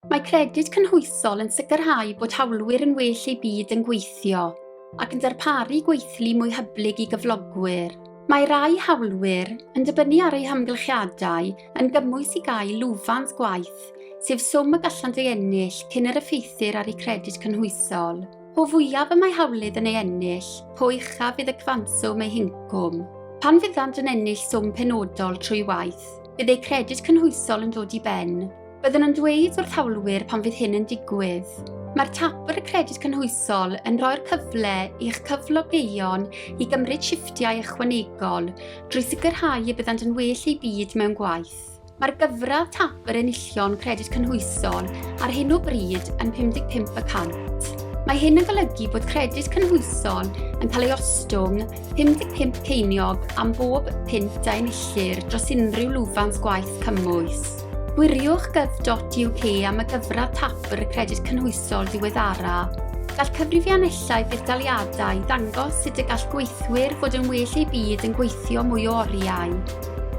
Mae credyd cynhwysol yn sicrhau bod hawlwyr yn well eu byd yn gweithio ac yn darparu gweithlu mwy hyblyg i gyflogwyr. Mae rai hawlwyr, yn dibynnu ar eu hamgylchiadau, yn gymwys i gael lwfans gwaith, sef swm y gallant ei ennill cyn yr effeithir ar eu credyd cynhwysol. Po fwyaf y mae hawlydd yn ei ennill, po uchaf fydd y cyfanswm ei hincwm. Pan fyddant yn ennill swm penodol trwy waith, bydd eu credyd cynhwysol yn dod i ben, Byddwn yn dweud wrth hawlwyr pan fydd hyn yn digwydd. Mae'r Tabwr y Credyd Cynhwysol yn rhoi'r cyfle i'ch cyflogeion i gymryd shiftiau ychwanegol drwy sicrhau y byddant yn well eu byd mewn gwaith. Mae'r gyfradd Tabwr Enillion Credyd Cynhwysol ar hyn o bryd yn 55 y cant. Mae hyn yn golygu bod credyd cynhwysol yn cael ei ostwng 55 ceiniog am bob pint a enillir dros unrhyw lwfans gwaith cymwys. Gwiriwch gov.uk am y gyfradd Tabr y Credyd Cynhwysol ddiweddara. Gall cyfrifiannellau budaliadau ddangos sut y gall gweithwyr fod yn well eu byd yn gweithio mwy o oriau.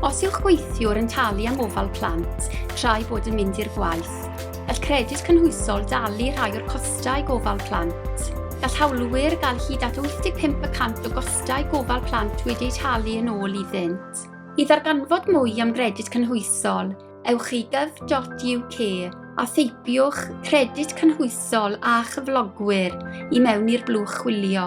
Os yw'ch gweithiwr yn talu am ofal plant tra'i bod yn mynd i'r gwaith, gall Credyd Cynhwysol dalu rhai o'r costau gofal plant. Gall hawlwyr gael hyd at 85 y cant o gostau gofal plant wedi'u talu yn ôl iddynt. I ddarganfod mwy am gredyd cynhwysol, ewch i gov.uk a theipiwch credyd cynhwysol a chyflogwyr i mewn i'r blwch chwilio.